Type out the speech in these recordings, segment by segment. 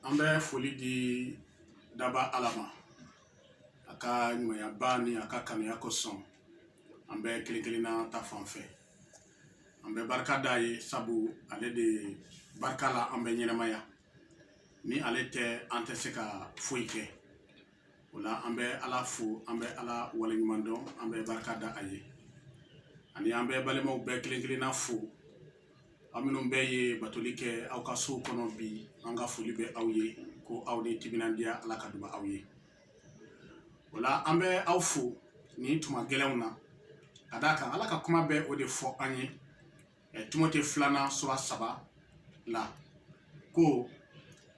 an bɛ foli di daba ala ma a ka ɲumanyaba ni a ka kanuya kosɔn an bɛɛ kelen kelenna ta fan fɛ an bɛ barika d'a ye sabu ale de barika la an bɛ ɲɛnamaya ni ale tɛ an tɛ se ka foyi kɛ o la an bɛ ala fo an bɛ ala waleɲuman dɔn an bɛ barika da a ye ani an bɛ balimaw bɛɛ kelen kelenna fo aw minnu bɛɛ ye batoli kɛ aw ka sow kɔnɔ bi an ka foli bɛ aw ye ko aw ni timinandiya ala ka duba aw ye o la an bɛ aw fo nin tuma gɛlɛnw na ka d'a kan ala ka kuma bɛ o de fɔ an ye timote filanan sura saba la ko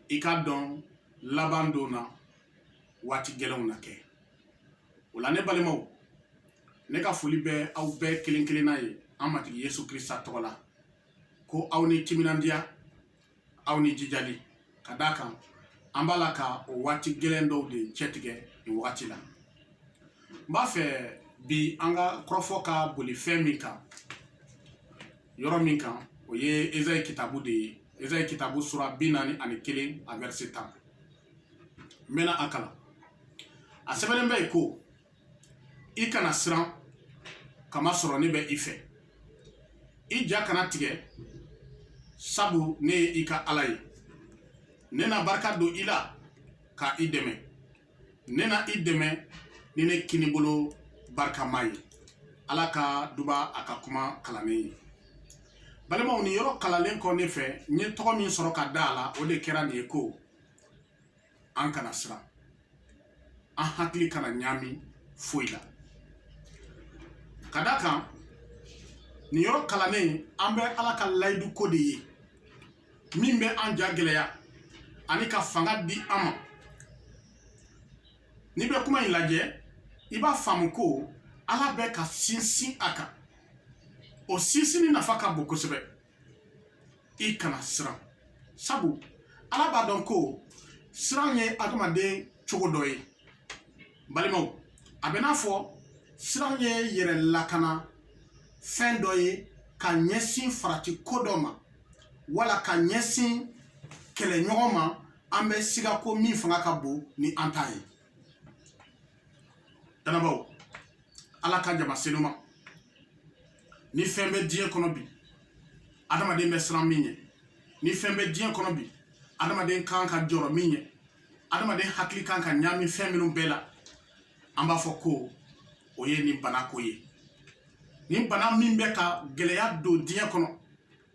i k'a dɔn laban don na waati gɛlɛnw na kɛ o la ne balimaw ne ka foli bɛ aw bɛɛ kelen kelenna ye an matigi yesu krista tɔgɔ la ko aw ni timinandiya aw ni jijali ka d'a kan an b'a la ka o waati gɛlɛn dɔw de cɛtigɛ nin wagati la n b'a fɛ bi an ka kɔrɔfɔ ka boli fɛn min kan yɔrɔ min kan o ye ezayi kitabu de ye ezayi kitabu sura bi naani ani kelen a vɛrise tan n bɛna a kalan a sɛbɛnnen bɛ yen ko i kana siran k'a masɔrɔ ne bɛ i fɛ i ja kana tigɛ sabu ne ye i ka ala ye ne na barika don i la ka i dɛmɛ ne na i dɛmɛ ni ne kinibolo barikama ye ala ka duba a ka kuma kalannen ye balimaw nin yɔrɔ kalalen kɔ ne fɛ n ye tɔgɔ min sɔrɔ ka da a la o de kɛra nin ye ko an kana siran an hakili kana ɲaami foyi la ka d'a kan nin yɔrɔ kalannen an bɛ ala ka layidu ko de ye min bɛ an ja gɛlɛya ani ka fanga di an ma n'i bɛ kuma in lajɛ i b'a faamu ko ala bɛ ka sinsin a kan o sinsinni nafa ka bon kosɛbɛ i kana siran sabu ala b'a dɔn ko siran ye adamaden cogo dɔ ye balimaw a bɛ n'a fɔ siran ye yɛrɛ lakana fɛn dɔ ye ka ɲɛsin farati ko dɔ ma wala ka ɲɛsin kɛlɛɲɔgɔn ma an bɛ siga ko min fanga ka bon ni an ta ye dannabaaw ala ka jama senuma ni fɛn bɛ diɲɛ kɔnɔ bi adamaden bɛ siran min ɲɛ ni fɛn bɛ diɲɛ kɔnɔ bi adamaden kan ka jɔrɔ min ɲɛ adamaden hakili kan ka ɲaami fɛn minnu bɛɛ la an b'a fɔ ko o ye nin bana ko ye nin bana min bɛ ka gɛlɛya don diɲɛ kɔnɔ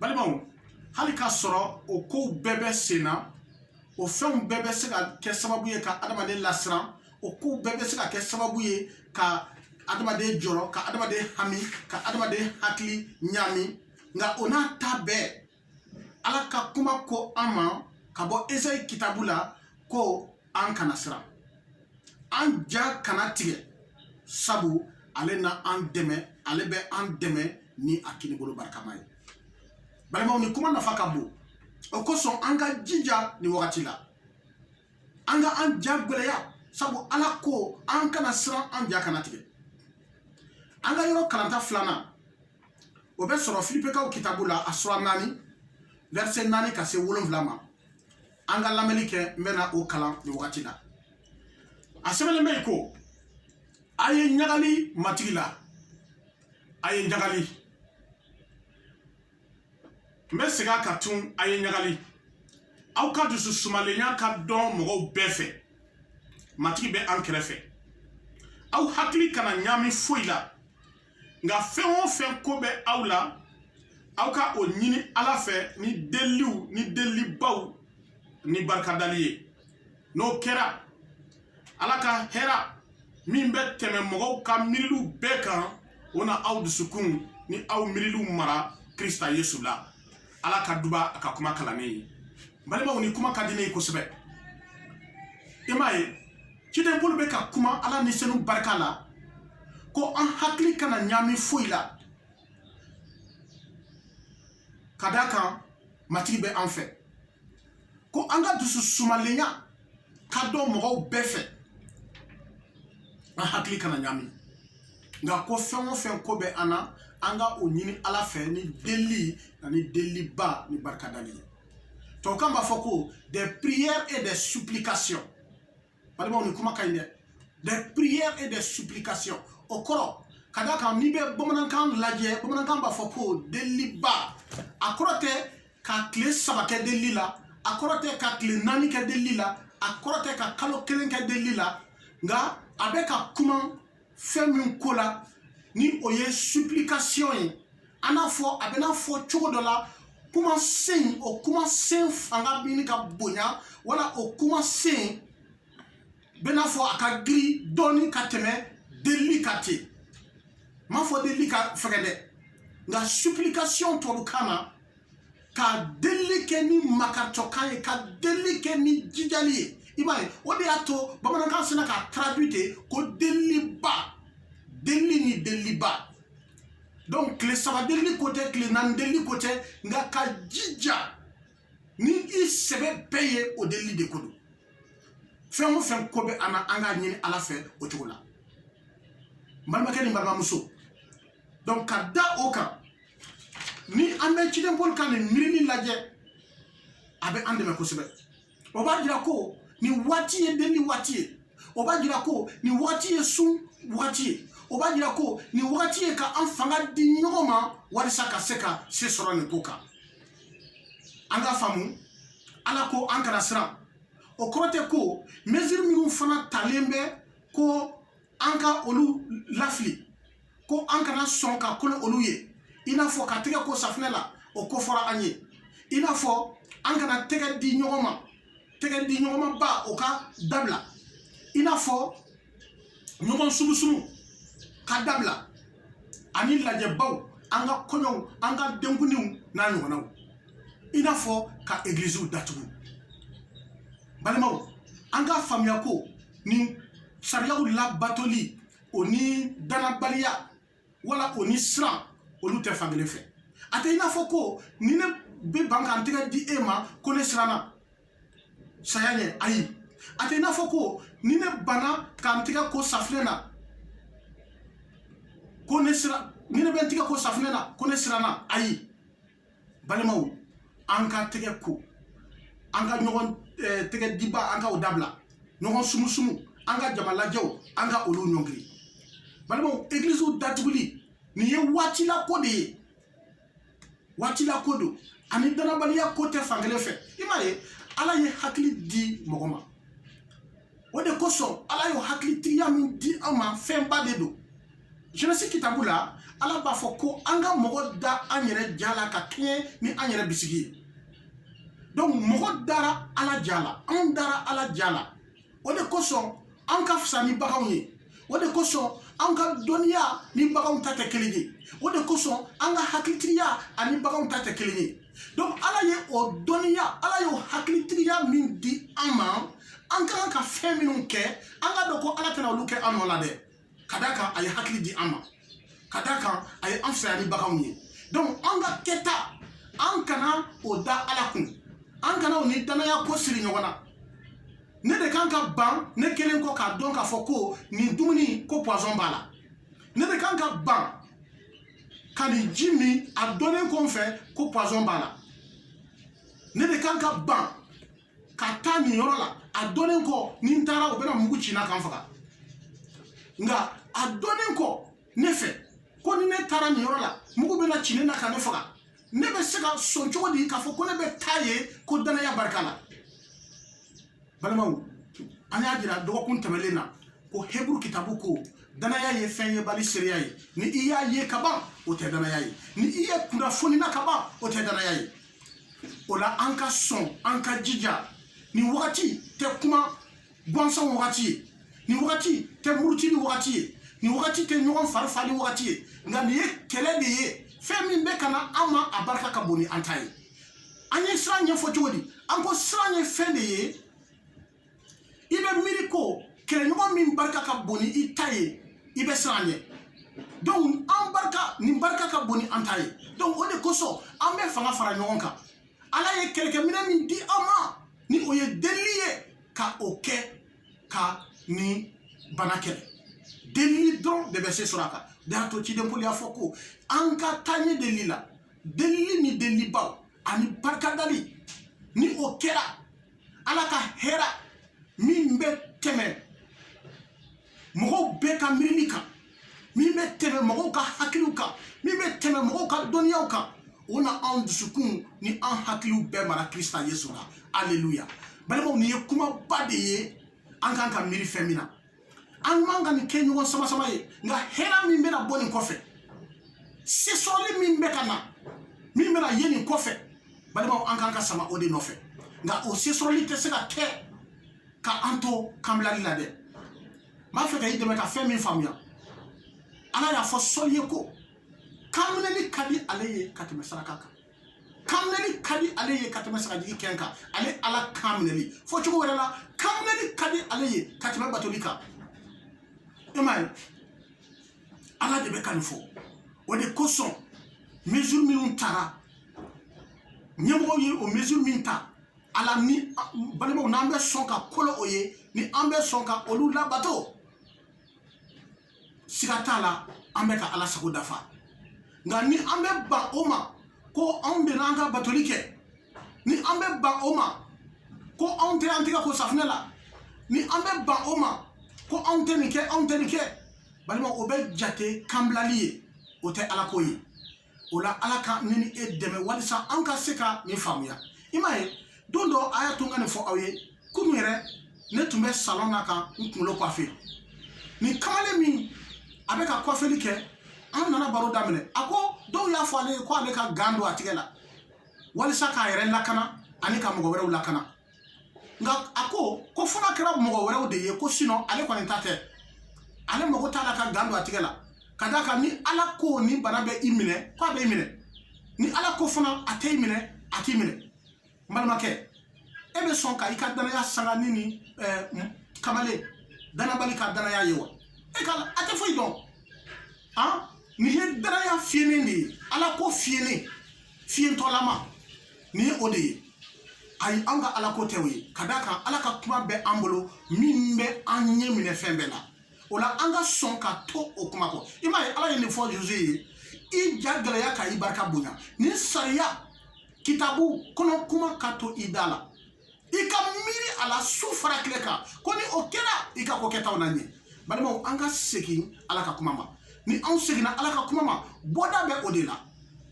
balimaw hali k'a sɔrɔ o kow bɛɛ bɛ sen na o fɛnw bɛɛ bɛ se ka kɛ sababu ye ka adamaden lasiran o kow bɛɛ bɛ se ka kɛ sababu ye ka adamaden jɔrɔ ka adamaden hami ka adamaden hakili ɲaami nka o n'a ta bɛɛ ala ka kuma ko an ma ka bɔ esayi kitabu la ko an kana siran an ja kana tigɛ sabu ale na an dɛmɛ ale bɛ an dɛmɛ ni a kinibolo barikama ye balimaw ni kuma nafa ka bon o kosɔn an ka jija ni wagati la an ka an ja gwɛlɛya sabu ala ko an kana siran an ja kana tigɛ an ka yɔrɔ kalanta filanan o bɛ sɔrɔ filipekaw kitabu la a sura naani vɛrisɛ naani ka se wolonfila ma an ka lamɛnni kɛ n bɛna o kalan nin wagati la a sɛbɛnnen bɛ yen ko a ye ɲagali matigi la a ye ɲagali n bɛ segin a kan tun a ye ɲagali aw ka dusu sumalenya ka dɔn mɔgɔw bɛɛ fɛ matigi bɛ an kɛrɛfɛ aw hakili kana ɲaami foyi la nka fɛn o fɛn ko bɛ aw la aw ka o ɲini ala fɛ ni deliliw ni delilibaw ni barikadali ye n'o kɛra ala ka hɛra min bɛ tɛmɛ mɔgɔw ka miiriliw bɛɛ kan o na aw dusukun ni aw miiriliw mara krista yesu la ala ka duba a ka kuma kalannen ye balimaw ni kuma ka di ne ye kosɛbɛ i m'a ye ciden paul bɛ ka kuma ala ni senu barika la ko an hakili kana ɲaami foyi la ka d'a kan matigi bɛ an fɛ ko an ka dusu sumalenya ka dɔn mɔgɔw bɛɛ fɛ an hakili kana ɲaami nka ko fɛn o fɛn ko bɛ an na an ka o ɲini ala fɛ ni delili ani deliliba ni barikadali ye tubabukan b'a fɔ ko des prières et des supplications balimaw nin kuma ka ɲi dɛ des prières et des supplications o kɔrɔ ka d'a kan n'i bɛ bamanankan lajɛ bamanankan b'a fɔ ko deliliba a kɔrɔ tɛ ka tile saba kɛ delili la a kɔrɔ tɛ ka tile naani kɛ delili la a kɔrɔ tɛ ka kalo kelen kɛ delili la nka a bɛ ka kuma fɛn min ko la ni o ye supplication ye an n'a fɔ a bɛna fɔ cogo dɔ la kumasen o kumasen fanga ɲini ka bonya wala o kumasen bɛna fɔ a ka giri dɔɔni ka tɛmɛ delili kan ten n m'a fɔ delili ka fɛgɛ dɛ nka supplication tubabukan na ka delili kɛ ni makaritɔkan ye ka delili kɛ ni jijali ye i b'a ye o de y'a to bamanankan sinna k'a traduit ten ko deliliba delili ni deliliba donc tile saba delili ko tɛ tile naani delili ko tɛ nka ka jija ni i sɛbɛ bɛɛ ye o delili de ko don fɛn o fɛn ko bɛ an na an k'a ɲini ala fɛ o cogo la n balimakɛ ni balimamuso donc ka da o kan ni an bɛ ciden paul ka nin miirili lajɛ a bɛ an dɛmɛ kosɛbɛ o b'a jira ko nin waati ye delili waati ye o b'a jira ko nin waati ye sun waati ye o b'a jira ko nin wagati ye ka an fanga di ɲɔgɔn ma walisa ka se ka se sɔrɔ nin ko kan an ka faamu ala ko an kana siran o kɔrɔ tɛ ko mesure minnu fana talen bɛ ko an ka olu lafili ko an kana sɔn ka kolo olu ye i n'a fɔ ka tɛgɛ ko safinɛ la o ko fɔra an ye i n'a fɔ an kana tɛgɛ di ɲɔgɔn ma tɛgɛ di ɲɔgɔn ma ba o ka dabila i n'a fɔ ɲɔgɔn sumusumu ka dabila ani lajɛbaw an ka kɔɲɔw an ka denkundiw n'a ɲɔgɔnnaw i n'a fɔ ka egiliziw datugu balimaw an ka faamuya ko nin sariyaw labatoli o ni dannabaliya wala o ni siran olu tɛ fan kelen fɛ a tɛ i n'a fɔ ko ni ne bɛ ban ka n tɛgɛ di e ma ko ne siranna saya ɲɛ ayi a tɛ i n'a fɔ ko ni ne banna ka n tɛgɛ ko safinɛ na ko ne siran ni ne bɛ n tɛgɛ ko safinɛ na ko ne siranna ayi balimaw an ka tɛgɛ ko an ka ɲɔgɔn eh, tɛgɛ diba an ka o dabila ɲɔgɔn sumusumu an ka jama lajɛw an ka olu ɲɔngiri balimaw egiliziw datuguli nin ye waatila ko de ye waatila ko don ani dannabaliya ko tɛ fan kelen fɛ i m'a ye ala ye hakili di mɔgɔ ma o de kosɔn ala y'o hakilitigiya min di an ma fɛnba de don jenesi kitabu la ala b'a fɔ ko an ka mɔgɔ da an yɛrɛ ja la ka kɛɲɛ ni an yɛrɛ bisigi ye donc mɔgɔ dara ala ja la anw dara ala ja la o de kosɔn an ka fisa ni baganw ye o de kosɔn an ka dɔnniya ni baganw ta tɛ kelen ye o de kosɔn an ka hakilitigiya ani baganw ta tɛ kelen ye donc ala ye o dɔnniya ala y'o hakilitigiya min di an ma an ka kan ka fɛn minnu kɛ an ka dɔn ko ala tɛna olu kɛ an nɔ la dɛ ka d'a kan a ye hakili di an ma ka d'a kan a ye an fisaya ni baganw ye donc an ka kɛta an kana o da ala kun an kana o ni dannaya ko siri ɲɔgɔn na ne de ka kan ka ban ne kɛlen kɔ k'a dɔn k'a fɔ ko nin dumuni ko poison b'a la ne de ka kan ka ban ka nin ji min a dɔnnen kɔ n fɛ ko poison b'a la ne de kan ka ban ka taa nin yɔrɔ la a dɔnnen kɔ ni n taara u bɛna mugu ci n na ka n faga nka a dɔnnen kɔ ne fɛ ko ni ne taara nin yɔrɔ la mugu bɛna ci ne na ka ne faga ne bɛ se ka sɔn cogo di k'a fɔ ko ne bɛ taa yen ko danaya barika la balimaw an y'a jira dɔgɔkun tɛmɛlen na ko heburu kitabu ko danaya ye fɛn yebali seereya ye ni i y'a ye ka ban o tɛ danaya ye ni i ye kunnafoni na ka ban o tɛ danaya ye o la an ka sɔn an ka jija nin wagati tɛ kuma gansan wagati ye nin wagati tɛ murutili wagati ye nin wagati tɛ ɲɔgɔn farifali wagati ye nka nin ye kɛlɛ de ye fɛn min bɛ ka na an ma a barika ka bon ni an ta ye an ye siran ɲɛfɔ cogo di an ko siran ye fɛn de ye i bɛ miiri ko kɛlɛɲɔgɔn min barika ka bon ni i ta ye i bɛ siran ɲɛ donc an barika nin barika ka bon ni an ta ye donc o de kosɔn an bɛ fanga fara ɲɔgɔn kan ala ye kɛlɛkɛminɛ min di an ma ni o ye delili ye ka o kɛ ka nin bana kɛlɛ delili dɔrɔn de bɛ se sɔrɔ a kan de y'a to ciden poli y'a fɔ ko an ka taa ɲɛ delili la delili ni delilibaw ani barikadali ni o kɛra ala ka hɛra min bɛ tɛmɛ mɔgɔw bɛɛ ka miirili kan min bɛ tɛmɛ mɔgɔw ka hakiliw kan min bɛ tɛmɛ mɔgɔw ka dɔnniyaw kan o na an dusukun ni an hakiliw bɛɛ mara krista yesu la aleluya balimaw nin ye kumaba de ye an kan ka miiri fɛn min na an man kan ka nin kɛ ɲɔgɔn sama sama ye nka hɛra min bɛna bɔ nin kɔfɛ se sɔrɔli min bɛ ka na min bɛna ye nin kɔfɛ balimaw an kan ka sama o de nɔfɛ nka o se sɔrɔli tɛ se ka kɛ ka an to kanbilali la dɛ n b'a fɛ ka i dɛmɛ ka fɛn min faamuya ala y'a fɔ sɔli ye ko kanminɛli ka di ale ye ka tɛmɛ saraka kan kanminɛli ka di ale ye ka tɛmɛ sagajigi kɛn kan ale ala kan minɛli fɔ cogo wɛrɛ la kanminɛli ka di ale ye ka tɛmɛ batoli kan e m'a ye ala de bɛ ka nin fɔ o de kosɔn mesure minnu tara ɲɛmɔgɔw ye o mesure min ta ala ni balimaw n'an bɛ sɔn ka kolo o ye ni an bɛ sɔn ka olu labato siga t'a la an bɛ ka ala sago dafa nka ni an bɛ ban o ma ko anw bɛna an ka batoli kɛ ni an bɛ ban o ma ko anw tɛ an tɛgɛ ko safinɛ la ni an bɛ ban o ma ko anw tɛ nin kɛ anw tɛ nin kɛ balima o bɛ jate kanbilali ye o tɛ ala ko ye o la ala ka ne ni e dɛmɛ walisa an ka se ka nin faamuya i m'a ye don dɔ a y'a to n ka nin fɔ aw ye kunun yɛrɛ ne tun bɛ salɔn na ka n kunkolo kwafe nin kamalen min a bɛ ka kwafeli kɛ an nana baro daminɛ a ko dɔw y'a fɔ ale ye ko ale ka gan don a tigɛ la walisa k'a yɛrɛ lakana ani ka mɔgɔ wɛrɛw lakana nka a ko ko fo n'a kɛra mɔgɔ wɛrɛw de ye ko sinɔn ale kɔni ta tɛ ale mago t'a la ka gan don a tigɛ la ka d'a kan ni ala ko ni bana bɛ i minɛ ko a bɛ i minɛ ni ala ko fana a tɛ i minɛ a t'i minɛ n balimakɛ e bɛ sɔn ka i ka danaya sanga ni nin kamalen danabali ka danaya ye wa e ka a tɛ foyi dɔn nin ye danaya fiyennen de ye ala ko fiyennen fiyentɔlama nin ye o de ye ayi an ka ala ko tɛ o ye ka d'a kan ala ka kuma bɛ an bolo min bɛ an ɲɛ minɛ fɛn bɛɛ la o la an ka sɔn ka to o kuma kɔ i m'a ye ala ye nin fɔ josué ye i ja gɛlɛya ka i barika bonya nin sariya kitabu kɔnɔ kuma ka to i da la i ka miiri a la su fara tile kan ko ni o kɛra i ka ko kɛtaw na ɲɛ balimaw an ka segin ala ka kuma ma ni anw seginna ala ka kuma ma bɔda bɛ o de la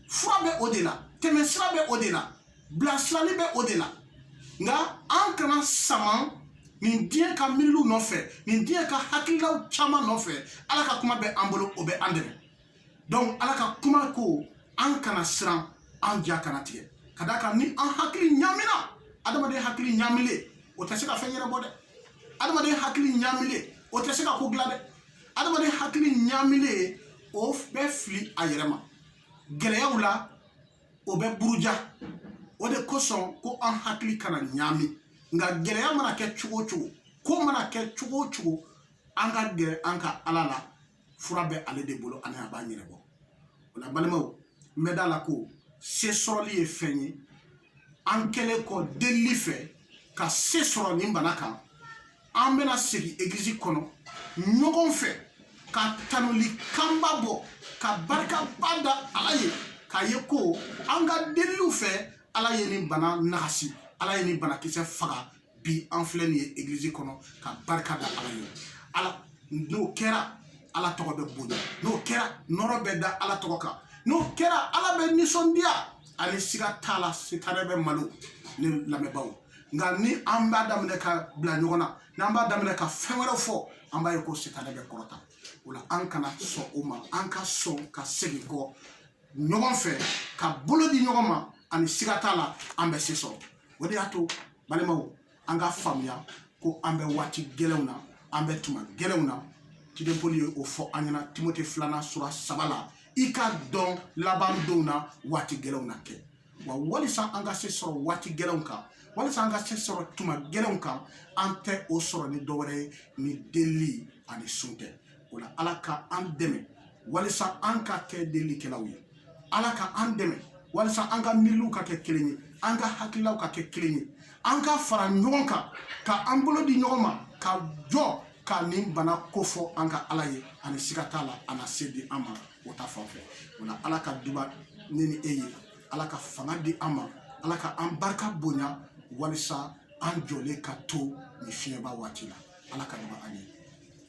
fura bɛ o de la tɛmɛsira bɛ o de la bilasirali bɛ o de la nka an kana sama nin diɲɛ ka miiriliw nɔfɛ nin diɲɛ ka hakililaw caman nɔfɛ ala ka kuma bɛ an bolo o bɛ an dɛmɛ donc ala ka kuma ko an kana siran an ja kana tigɛ ka d'a kan ni an hakili ɲamina adamaden hakili ɲamilen o tɛ se ka fɛn ɲɛnabɔ dɛ adamaden hakili ɲamilen o tɛ se ka ko dilan dɛ adamaden hakili ɲamilen o bɛ fili a yɛrɛ ma gɛlɛyaw la o bɛ buruja o de kosɔn ko an hakili kana ɲami nka gɛlɛya mana kɛ cogo o cogo ko mana kɛ cogo o cogo an ka gɛrɛ an ka ala la fura bɛ ale de bolo ani a b'a ɲɛnabɔ o la balimaw n bɛ da la ko se sɔrɔli ye fɛn ye an kɛlen kɔ delili fɛ ka se sɔrɔ nin bana kan an bɛna segin egilizi kɔnɔ ɲɔgɔn fɛ ka tanuli kanba bɔ ka barikaba da ala ye k'a ye ko an ka deliliw fɛ ala ye nin bana nagasi ala ye nin banakisɛ faga bi an filɛ nin ye egilizi kɔnɔ ka barika da ala ye ala n'o kɛra ala tɔgɔ bɛ bonya n'o kɛra nɔrɔ bɛ da ala tɔgɔ kan n'o kɛra ala bɛ nisɔndiya ani siga t'a la sitanɛ bɛ malo ne lamɛnbaaw nka ni an b'a daminɛ ka bila ɲɔgɔn na n'an b'a daminɛ ka fɛn wɛrɛ fɔ an b'a ye ko sitanɛ bɛ kɔrɔta o la an kana sɔn o ma an ka sɔn ka segin kɔ ɲɔgɔn fɛ ka bolo di ɲɔgɔn ma ani siga t'a la an bɛ se sɔrɔ o de y'a to balimaw an ka faamuya ko an bɛ waati gɛlɛnw na an bɛ tuma gɛlɛnw na ciden pɔli ye o fɔ an ɲɛna timote filanan sura saba la i ka dɔn laban donw na waati gɛlɛnw na kɛ wa walisa an ka se sɔrɔ waati gɛlɛnw kan walisa an ka se sɔrɔ tuma gɛlɛnw kan an tɛ o sɔrɔ ni dɔwɛrɛ ye ni delili ani sun tɛ o la ala ka an dɛmɛ walisa an ka kɛ delilikɛlaw ye ala ka an dɛmɛ walisa an ka miiriliw ka kɛ kelen ye an ka hakililaw ka kɛ kelen ye an ka fara ɲɔgɔn kan ka an bolo di ɲɔgɔn ma ka jɔ ka nin bana kofɔ an ka ala ye ani siga t'a la a na se di an ma o ta fan fɛ o la ala ka duba ne ni e ye ala ka fanga di an ma ala ka an barika bonya walisa an jɔlen ka to nin fiɲɛba waati la ala ka duba an ye